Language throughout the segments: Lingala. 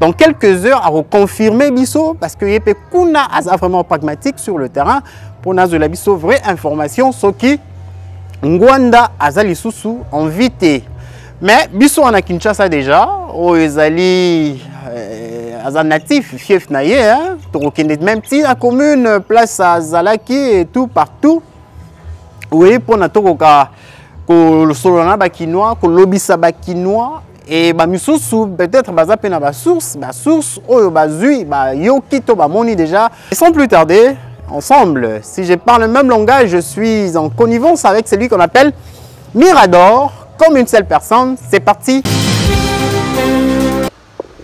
dans quelques heures à confirmer biso parce que yepe kuna aza vraiment pragmatique sur le terrain pour nazola biso vraie information soki Ngwanda aza lisusu en vite mais biso en Kinshasa déjà oh ezali euh, aza natif fief na ye hein tokokende même ti la commune place à Zalaki et tout partout oui pour na tokoka kolosolola na bakinois kolobisa bakinois e bamisusu peut-être baza mpe na basource basource oyo bazwi bayoki to bamoni déjà sans plus tarder ensemble si je parle le même langage je suis en connivence avec celui qu'on appelle mirador comme une seule personne c'est parti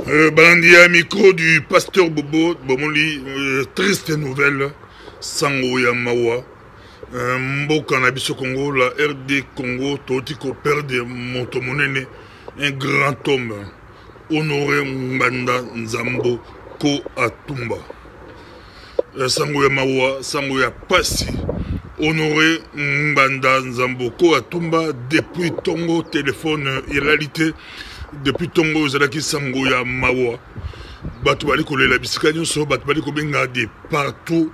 euh, balandi ya micro du pasteur bobo bomoni euh, triste nouvelle sango ya mawa Euh, mboka na biso congo la rd congo touti koperde moto monene un grand homme honore ngbanda nzambo ko atumba euh, sango ya mawa sango ya pasi honore ngbanda nzambo ko atumba depuis tongo telefone elali te depuis tongo ezalaki sango ya mawa bato bali kolela bisika nyonso bato bali kobenga de partout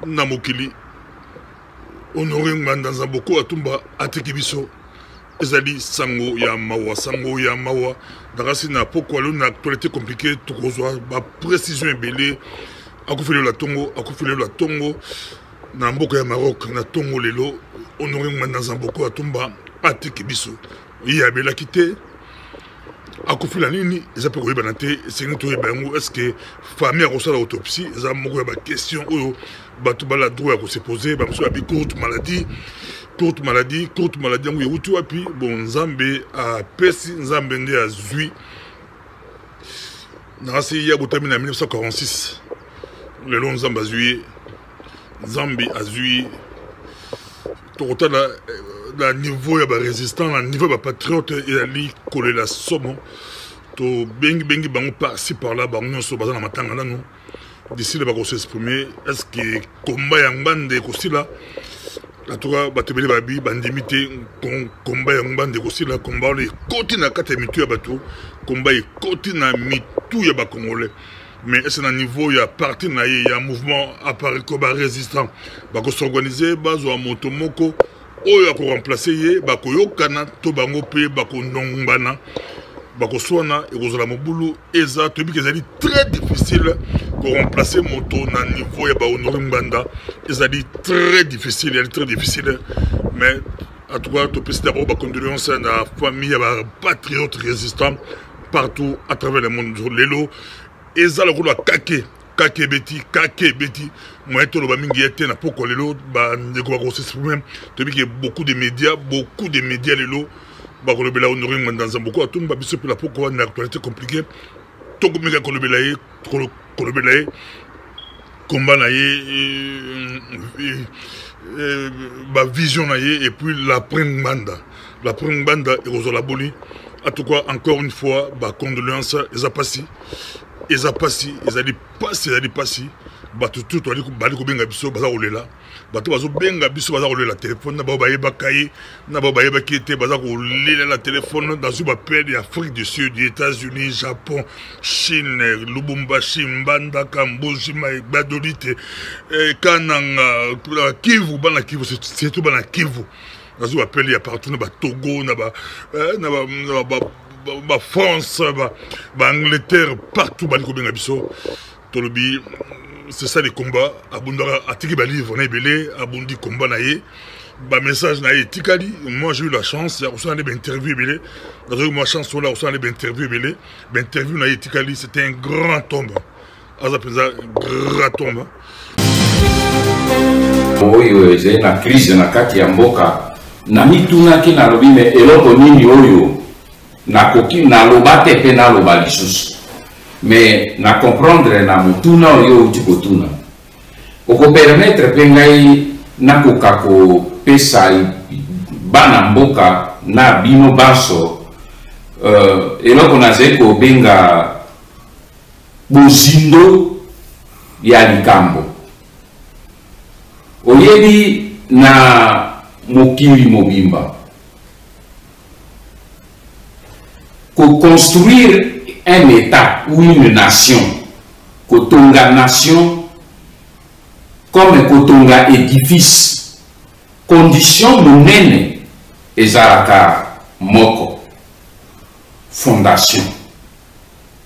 na mokili honore ngbanda nzamboko atumba atiki biso ezali sango ya mawa sango ya mawa nakasi na pokwa lelo na actualité compliqué tokozwa baprécision ebele akufeli ola tongo akufeli ola tongo na mboka ya maroc na tongo lelo honore ngbanda nzamboko atumba atiki biso ye abelaki te akufi na nini eza mpe koyebana te esengi toyeba yango estce famille akosala autopsie eza moko ya baquestion oyo bato bala droit ya kosepose bamosusu babi courte maladie courte maladie courte maladie yango ewuti wapi bon nzambe apesi nzambe nde azwi nasi ye abotami na 1946 lelo nzambe azwi ye nzambe azwi ye tokotala eh, na niveau ya barésistant na niveau ya bapatriote eyali kolela somo tobengibengi bango parci parla bango nyonso baza na matanga nano disile bakoseexprime estce komba ya ngbanda ekosila atuka bato ebele babi bandimi te komba ya ngbanda ekosila komba wana ekoti na kati ya mitu ya bato komba ekoti na mitu ya bakongolais mais est-ce na niveau ya parti na ye ya mouvement apariko barésistant bakosorganize bazwa moto moko oyo akoremplace ye bakoyokana to bango mpe bakonongbana bakoswana ekozala mobulu eza toyebi ke ezali très difficile koremplace moto na niveau ya bahonore ngbanda ezali très difficile ezali très difficile mais en tout cas topesi d'abord bacondoléance na famille ya bapatriote résistant partout à travers le monde lelo eza lokola kake kake ebeti kake ebeti moyen toloba mingi ye te na pokwa lelo bandeko bakosesprime toyebi ke beaucoup de média beaucoup de média lelo bakolobela honore ngwandanza boko atumba biso mpe na pokwa na actualité compliqué tokomeka kolobela ye kolobela ye komba na ye bavision na ye epuis lapres ngbanda lapres ngbanda ekozala boni en tout cas encore une fois bacondoléance eza mpasi eza mpasi ezali mpasi ezali mpasi bato tu bali kobenga biso baza kolela bato bazobenga biso baza kolela telefone na bao bayebaka ye na bao bayebaki ye te baza kolelela telefone nazwi bapele ya afrique du sud états-unis japon chine lubumbashi mbandaka mbuji magbadolite eh, kananga kivu bana kivu surtout bana kivu nazwi bapele ya partout na batogo na ba, eh, na ba, na ba, ba, ba france baangleterre ba partout bali kobenga biso tolobi c'est ça le combat abundaka atiki balivre na ebele abundi combat na ye bamessage na ye etikali moi j'ai eu la chance ya kosala nde bainterview ebele nazwaki mwa chance wana ya kosala nde bainterview ebele bainterview na ye etikali c'est un grand tombe aza mpenza grand tombe oyo ezali na crise na kati ya mboka namitunaki nalobi me eloko nini oyo Nakoki naloba te pe naloba lisusu. Mais na comprendre na motuna oyo outi kotuna. Oko permettre pe ngai nakoka kopesa bana mboka na bino banso euh, eloko nazali kobenga bozindo ya likambo oyebi na mokili mobimba Ko construire un etat ou une nation, kotonga nation comme kotonga edifice, condition monene ezalaka moko, fondation.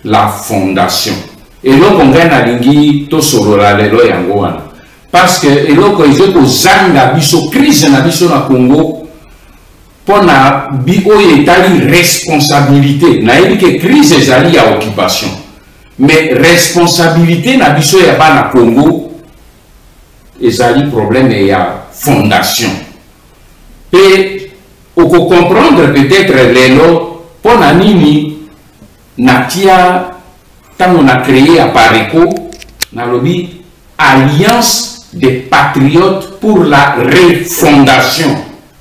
la fondation eloko ngai nalingi tosolola lelo yango wana parce que eloko ezali kozanga biso crise na biso na congo mpo na bi oyo etali responsabilité nayebi ke crise ezali ya occupation mais responsabilité na biso ya bana congo ezali problème ya fondation mpe okocomprendre peut-être lelo mpo na nini natia ntango na cree apareco nalobi alliance des patriotes pour la refondation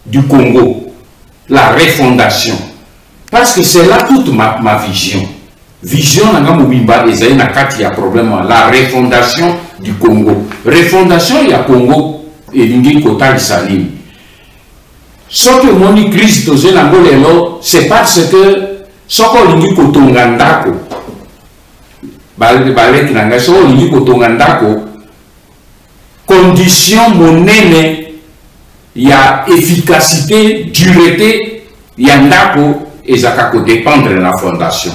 du congo la refondation parce que c'est là toute ma, ma vision vision na nga mobimba ezali na kati ya problème wana la refondation du congo refondation ya congo elingi kotalisa nini Soki omoni crise tozwi na yango lelo, c'est parce que soki olingi kotonga ndako, baleki na ngai, soki olingi kotonga ndako, condition monene ya efficacité, durete ya ndako ezalaka kodependre na fondation.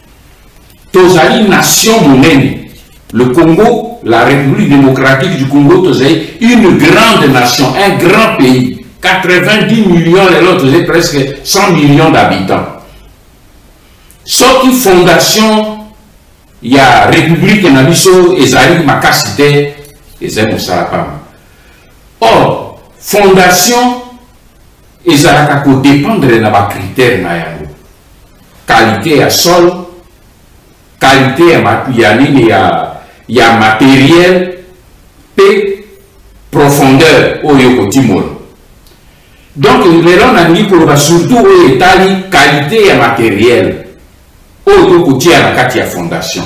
tozali nation monene le congo la république démocratique du congo tozali une grande nation un grand pays 90 millions lelo tozali presque 100 millions d'habitants soki fondation ya république na biso ezali makasi te ezali mosala pamba or fondation Ezalaka ko dependre na ba critères na yango, qualite ya sol, qualite ya ya nini ya ya materiel pe profondeur oyo kotimola donc lelo nalingi koloba surtout oyo etali qualité ya materiel Oyo to ko tia na kati ya fondation.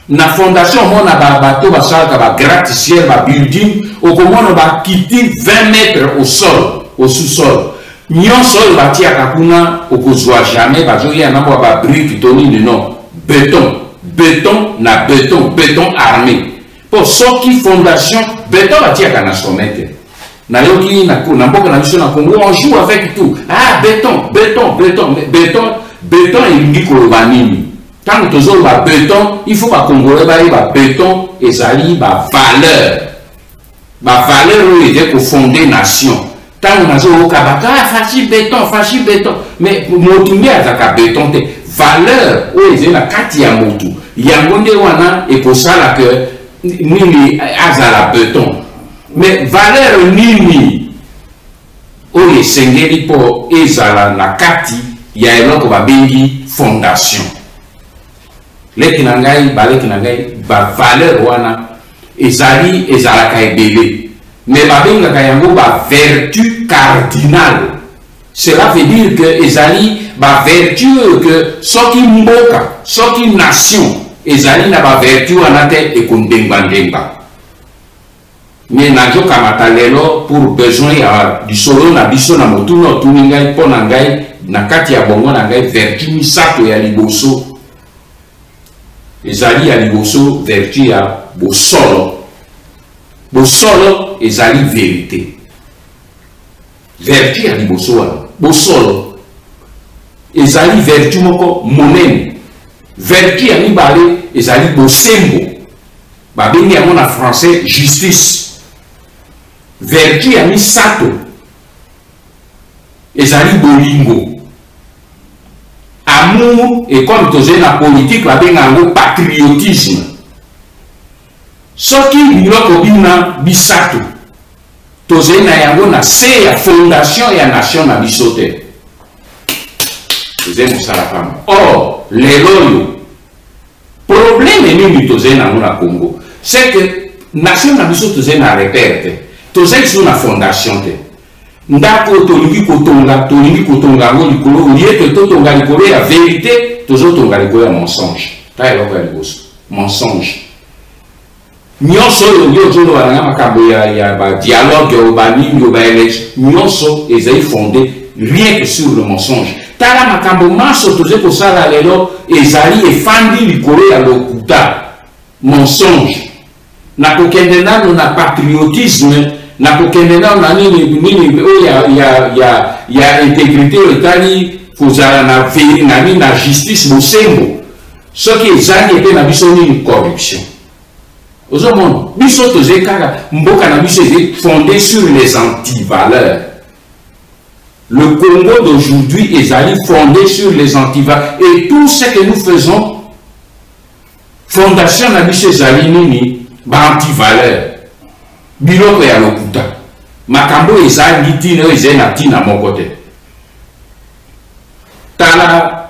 Na fondation omona ba bateau ba salaka ba gratte ciel ba building okomona ba kiti 20 mètres au sol au sous sol nyonso oyo ba tiaka kuna okozwa jamais ba zo ya na mwa ba brique to nini non beton beton na beton beton armé Po soki fondation beton batiyaka na sommet te. Nayoki na na mboka na biso na Congo on joue avec tout. Ah beton, beton, beton, beton, beton elingi koloba nini? Tango tozoloba beton, il faut ba congolais bayeba beton ezali ba valeur. Ba valeur oyo ete ko fonder nation. ntango nazoyoka bato ah, fashi beton fashi beton mais motu nde azalaka beton te valeur oyo ezali na kati ya motu yango nde wana ekosala ke nini azala beton mais valeur nini oyo esengeli mpo ezala na kati ya eloko babengi fondation leki na ngai baleki na ngai bavaleur wana ezali ezalaka ebele me babengaka yango bavertu cardinal cela veut dire que ezali bavertu oyo ke soki mboka soki nation ezali na bavertu wana te ekondengba ndengba Mais nazo kamata lelo pour besoin ya lisolo na biso na motuna otuni ngai mpo na ngai na kati ya bongo na ngai vertu misato ya liboso ezali ya liboso vertu ya bosolo bosolo ezali verite vertu ya liboso wana bosolo ezali vertu moko monene vertu ya mibale ezali bosembo Babengi yango na français justice. Vertu ya misato ezali bolingo. Amour et comme tozali na politique babenga yango patriotisme. Soki biloko bina bisato tozali na yango na se ya fondation ya nation na biso te ezali mosala pamba or lelo oyo Probleme nini tozali na yango na Congo? C'est que nation na biso tozali na repère te, tozali lisusu na fondation te. Ndako oyo tolingi kotonga, tolingi kotonga yango likolo olie ke totonga likolo ya verite, tozotonga likolo ya mensonge. Tala eloko ya liboso, mensonge. Nionso oyo yo ozoloba na makambo ya, ya ba dialogue oyo ba nini oyo ba election nionso ezali fonde rien que sur le mensonge. Tala makambo manso tozali kosala lelo ezali efandi likolo ya lokuta mensonge. Na kokende nano na patriotisme na kokende nano na nini nini oyo ya, ya, ya, ya integrite oyo etali kozala na, na, na justice bosembo Soki ezangi epe na biso nini corruption. Ozo mona biso toze kaka mboka na biso eze fonde sur les antivaleurs. Le Congo d'aujourd'hui ezali fonde sur les antivaleurs et tout ce que nous faisons fondation na biso ezali nini ba antivaleur biloko ya lokuta makambo oyo ezangi ntina oyo ezali na ntina moko te tala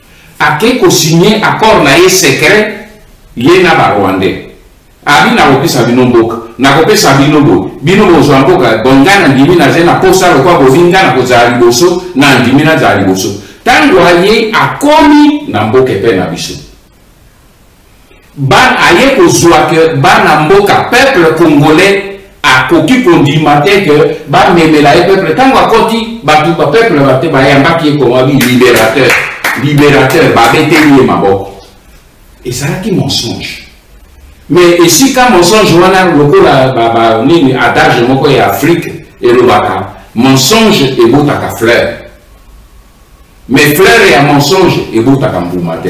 Ake ko signe accord na ye secret ye na ba rwandais abi na kopesa bino mboka na kopesa bino boye bino bozwa mboka bon ngai na ndimi na zali na posa lokola bofingi ngai na kozala liboso na ndimi nazala liboso ntango aye akomi na mboka epai na biso ba aye kozua que bana mboka peuple congolais akoki kondima te que bamemela ye peuple ntango akoti bato ba peuple bate bayambaki ye komabi libérateur libérateur babeteli ye maboko ezalaki mensonge mais esika mensonge wana lokola nini adage moko ya afrique elobaka mensonge ebotaka fleur Mais fleur ya mensonge ebotaka mbuma te.